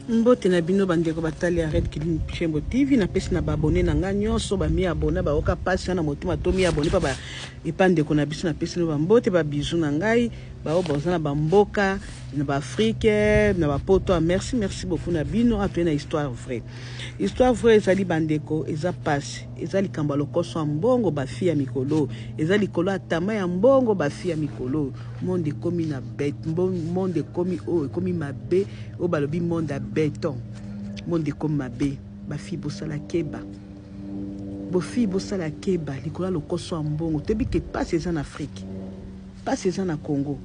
mbote na bino bandeko batali ya red kilin chembo tv napesi na baabone na ngai nyonso bamiabona bayoka mpasi na motema to miabone mpa epa ndeko na biso napesi no bambote babizu na ngai baoyo baza na bamboka na baafrike na bapoto ah, merci merci beaucoup na bino atoye ah, na histoire vraie histoire vraie ezali bandeko eza mpasi eza likambo ya lokoso ya mbongo bafi ya mikolo eza likolo ya tama ya mbongo bafi ya mikolo monde ekomi na bet monde ekomi oyo ekomi mabe oyo balobi monde ya beton monde ekomi mabe bafille bosala keba bofille bosala keba likolo ya lokoso ya mbongo toyebi ke mpasi eza na afrike mpasi eza na congo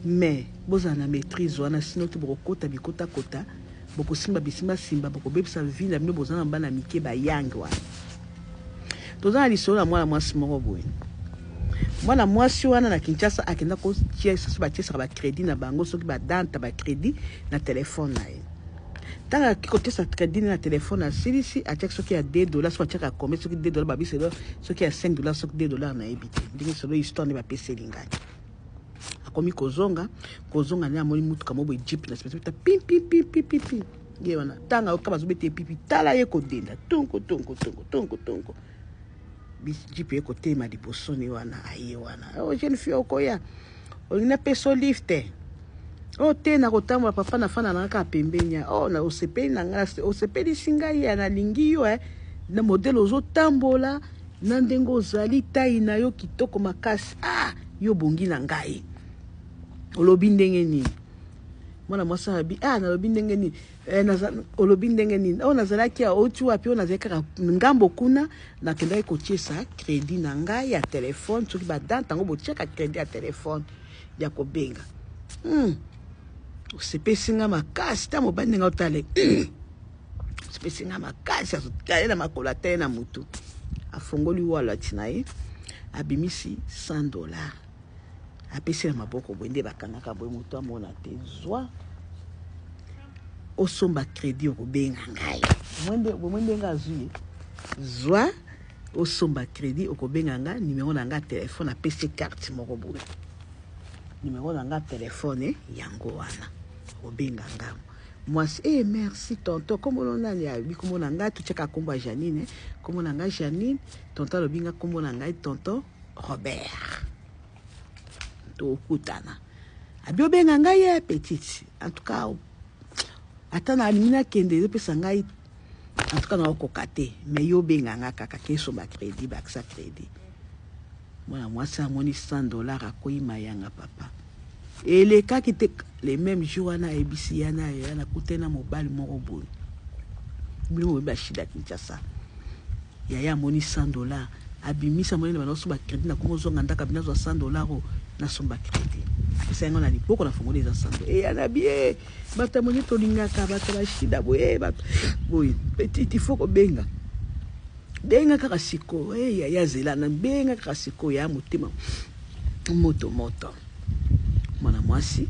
mais bozala na maîtrise wana sino te bokokota bikotakota bokosimba bisimbasimba bokobebisa vie na bino boza na bana mike bayange wana Toza na lisolo ya mwana mwasi moko boye. Mwana mwasi wana na Kinshasa akenda ko tia sisi ba tiesaka ba credit na bango soki ba danta ba credit na telefone na ye. Tanga akiki kotiesa credit na telefone asilisi atiaki soki ya 2 dollars soki atiaka kombe soki 2 dollars babisi elo soki ya 5 dollars soki 2 dollars na yebi te. Ndenge solo histoire nde bapeseli ngai. Akomi kozonga kozonga nde amoni mutuka moko boye jeep na sima pim pim pim pim pim. ye wana tanga yoka bazobeta ye pipi tala ye kodenda tonko tonko tonko tonko tonko jipe ye kotema libosoni wana aye wana o oh, jeune fille okoya olingi napeso lifte o oh, te nakotambola papa nafanda na kaka pembeni ya o oh, osepeli na ngai osepelisi ngai ya nalingi yo eh. na modele ozotambola na ndenge ozali tai na yo kitoko makasi ah yo bongi na ngai olobi ndenge nini mwana mwasi alobi ah nalobi ndenge nini eh, naza, olobi ndenge nini oyo oh, nazalaki auti wapi oyo oh, nazalaki kaka ngambo kuna nakendaki kotiesa credit na ngai ya telefone soki badante yango botiaka credit ya telefone ya kobenga hmm. osepesi nga makasi ta mobali ndenge otale hmm. osepesi nga makasi azotale na makolo atale na motu afongoli wallet na ye abimisi 100 dollars apesi na maboko boye nde bakangaka boye moto amona te zwa osomba kredi okobenga ngai bomoi ndenge azwi ye zwa osomba kredi okobenga ngai nimero na ngai telefone apesi karte moko boye nimero na ngai telefone yango wana okobenga ngai mwasi e eh, merci tonto nkombono nani alobi nkombo na ngai totyaka nkombo ya janine nkombo na ngai janine tonto alobi ngai nkombo na ngai tonto Robert tokutana abi obenga ngai ya petite en tout cas ata nalingi nakende ezopesa ngai en tout cas naokoka te mais yo obenga ngai kaka keso bacrédit bakisa crédit mwana mwasi amoni 100 dollar akoyi mayanga papa elekaki te le même jour wana ayebisi ya na ya nakute na mobali moko boye bino boyebi bashida kinshasa yaya amoni 100 dollar abimisa moni na bana oso bacrédit nakoma ozonga ndaka bino azwa 100 dollar o nasomba crédit apesa yango na liboko na fongoli eza 100 dollar eya na bie bato ya moni tolingaka bato ya bashida boye bato boye petit il faut kobenga benga kaka sikoyo eya eh, ya zela na benga kaka sikoyo ya motema Moto moto mwana mwasi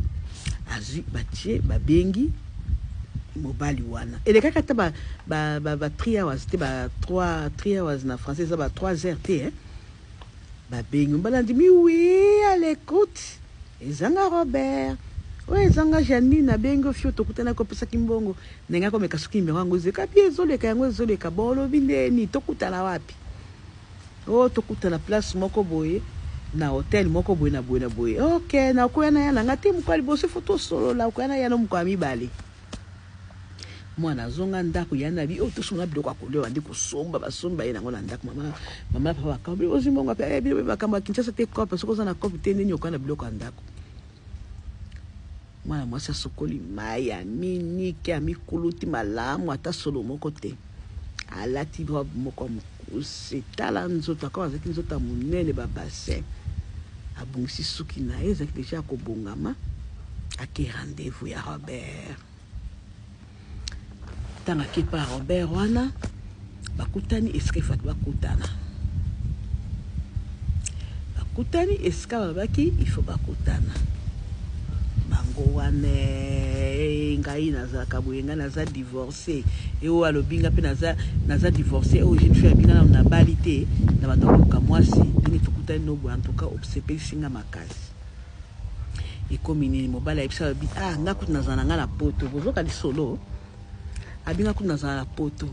azwi batie babengi mobali wana elekaka ata ba, ba, ba, ba 3 hours te ba 3 3 hours na français eza ba 3 heures te eh? babengi mobali andimi wi à l'écoute ezanga robert oyo ezanga janine abengi ofio tokutanaki opesaki mbongo ndenge akomeka soki nimero yango ezeka bi ezoleka yango ezoleka bolobi ndeni tokutana wapi Oh to kutana place moko boye na hotel moko boye na boye na boye ok na koya na ya na nga te mokolo ya liboso fo tosolola okoya na ya no mokolo ya mibale mwana azonga ndako ya na bi oyo oh, tosomba biloko ya kolia bandi kosomba basomba ye nango na ndako mama mama papa bakambi ozwi mbongo ape eh, bino mpe makambo ya kinshasa te cope soki oza na cope te nini okoya na biloko ya ndako Mwana mwasi asukoli mai, aminiki, amikuluti malamu, ata solo moko te. Alati robe moko ya mokuse, tala nzoto akoma, azalaki nzoto ya monene, ba bassin. Abongisi suki na ye, ezalaki deja ya kobongama, ake rendez-vous ya Robert. Tanga ke pa Robert wana bakutani esika ifaki bakutana, bakutani esika babaki ifo bakutana bango wana eh, ngai nazalaka boye, ngai naza divorce eo eh, alobi nga mpe naza, naza divorce oyo oh, jeune fille abinga nano nabali te na bato ya koluka mwasi ndenge tokutani nobo antuka osepelisi nga makasi Ekomi nini mobali ayebisi alobi ah nga kutu nazala na nga na poto bozoka lisolo abi nga kutu nazala na poto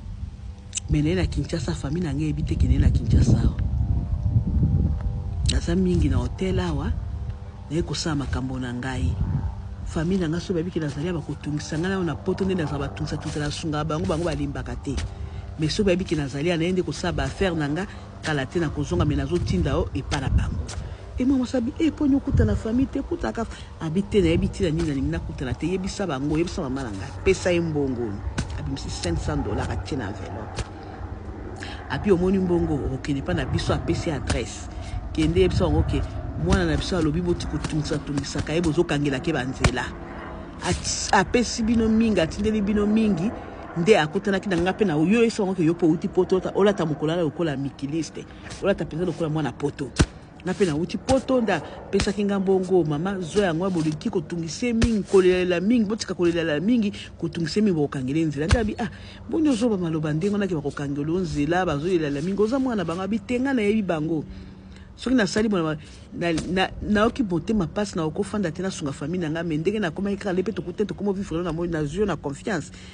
me naye na kinshasa famille na nga eyebi te kende na kinshasa awa naza mingi na hotel awa naye kosala makambo na ngai famille na nga so bayebi ke nazali ya bakotungisa ngai nayo na poto nde nazala batungisa tungisa na sunga bango bango balimbaka te me so bayebi ke nazali ya naye nde kosala baaffaire na nga kala te nakozonga me nazotinda yo epa na bango Et moi masabi eh poni okuta na famille te kuta ka abi te na yebi tina nini nalingi nakuta na te yebisa bango yebisa mama na ngai pesa ye mbongo abimisi 500 dollars atie na enveloppe abi omoni mbongo okokende pa na biso apesi adresse kende yebisa bango ke mwana na biso alobi boti kotungisa tungisaka ye bozokangela ke banzela apesi bino mingi atindeli bino mingi nde akutanaki na ngai mpe na yo yebisa bango ke yo mpe outi poto olata mokolo ala lokola mikiliste olata mpenza lokola mwana poto nga mpe nauti poto nda pesaki nga mbongo mama zwa yango ya boliki kotungisa ye mingi kolelela mingi botika kolelela mingi kotungisa ye mingi bokokangela ye nzela nde abi ah boni ozoba maloba ndenge wana ke bakokangela yo nzela bazolelela mingi oza mwana na bango abi te nga nayebi bango soki nasali bona nayoki motema mpasi nakoki ofanda te nasunga famille na ngai me ndenge nakomaki kaka le mpe tokutani tokoma vivre nazwi yo na confiance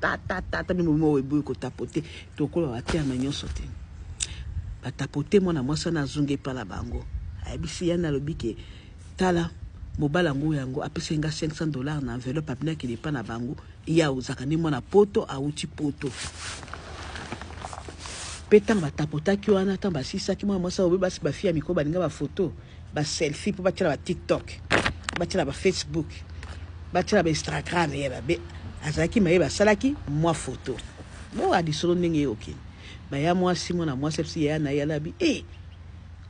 Ta ta ta ta mimi mo eboyi ko tapote tokola ba terme nyonso te ba tapote mwana mwasi wana azongi epa na bango ayebisi yani alobi ke tala mobali yango yango apesaki nga 500 dollars na enveloppe apina akende epa na bango ye auzaka nde mwana poto awuti poto mpe ntango batapotaki wana ntango basilisaki mwana mwasi oyo basi bafi ya mikolo balinga bafoto ba selfie mpo batyela ba tiktok batyela ba facebook batyela ba instagram ye babe azalaki maye basalaki mwa foto boa lisolo ndenge eyokini baya mwasi mwana mwasi apesi yaya na ye alabi e eh,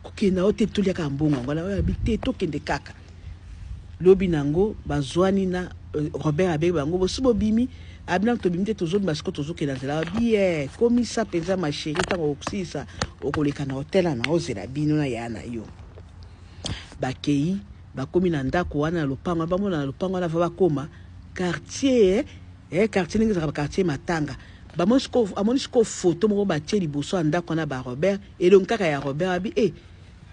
kokenda yo te toliaka mbongo yango ala alabi te tokende kaka lobi na yango bazwani na euh, robert abeyi bango bosi bobimi Ah bino tobimi te tozobima siko tozokela nzela bie komisa mpenza ma chérie ntango okosilisa okoleka na hotel ana ozela bino na yaya na yo bakei bakomi na ndako wana na lopango wana bamona na lopango wana va bakoma quartier eh, quartier ndenge ezalaka quartier matanga bamoni siko amoni siko foto moko batie liboso ya ndako wana ba robert elongi kaka ya robert abi e eh,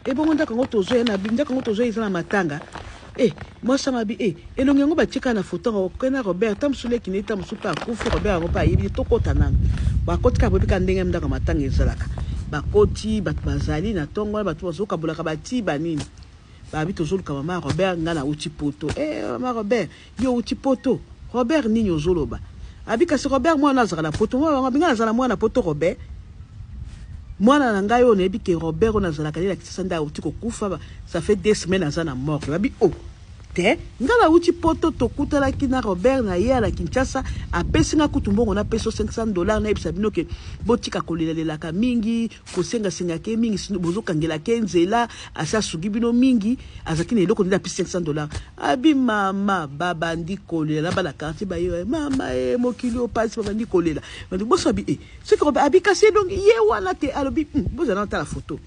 ebongo ndako yango tozo ya na ndako yango tozo eza na matanga eh mwasi ya mabi eh elongi yango batika na foto yango okei na robert ta mosusu leki neta mosusu mpe akufi robert yango mpe ayebi tokota nanu bakoti kaka boyebi kaka ndenge ndako ya matanga ezalaka bakoti bato bazali na ntongo wana bato bazokabolaka batiba nini babi tozoluka mama robert ngai nauti poto eh mama robert Yo owuti poto Robert nini ozo loba abi kasi Robert mwana azaka na poto mwana wango abi nga nazala mwana na poto Robert mwana na ngai oyo nayebi ke Robert oyo nazalaka ne na Kisasa nde awuti kokufa ça fait deux semaines aza na morgue babi o oh, te nga nawuti poto tokutanaki na Robert na ye na Kinshasa apesi nga kutu mbongo na peso 500 dollars nayebisa bino ke botika kolelelaka mingi kosenga senga ke mingi sino bozo kangela ke nzela asi asugi bino mingi azaki na eloko nde na pisi 500 dollars abi mama babandi kolela bana quartier bayo eh, mama e mokili opasi babandi kolela bandi boso abi e eh, soki kobe abi kasi elongi ye wana te alobi hmm, bozala na tala foto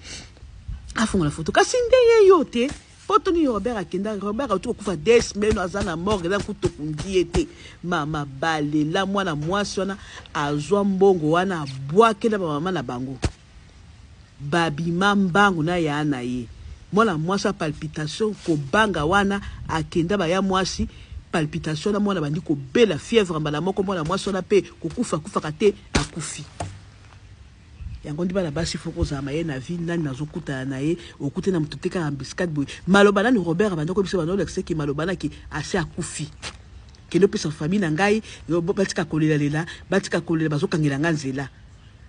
afongola foto kasi nde ye yo te Poto nini Robert akenda Robert auti kokufa des meno aza na morgue eza kutu tokundi ye te mama balela mwana mwasi wana azwa mbongo wana abwakela bamama na bango babima mbangu na yaa na ye mwana mwasi ya palpitation kobanga wana akenda baya mwasi palpitation wana mwana bandi kobela fièvre mbala moko mwana mwasi wana mpe kokufa akufaka te akufi Yango nde bana basi faut kozala maye na vie nani nazo kutana na ye okute na mutu te kaka embuscade boye maloba nani Robert abanda ko yebisa bana olakisa ke maloba na ke asi akufi kende opesa famille na ngai batika kolela lela batika kolela bazo kangela ngai nzela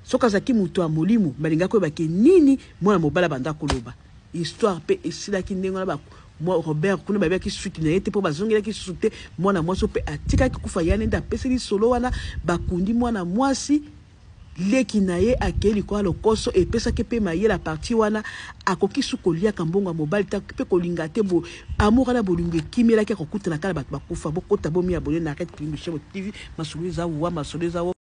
soki azalaki mutu ya molimo balinga koyeba ke nini mwana mobali abanda koloba histoire pe esilaki ndenge wana ba mwa Robert kuna bayebaki suki na ye te mpo bazongelaki susu te mwana mwasi mpe atikaki kufa ya nende apeseli solo wana bakundi mwana mwasi Leki na ye akei likolo ya lokoso epesaki pe mayele a partir wana akoki su koliaka mbongo ya mobali te akoki pe kolinga te bo amour wana bolingo ekimelaki akokutana kaka na batu bakufa bokota bo mi abonner na Arete Kilimbu Chez Moto TV masolo eza wua masolo eza.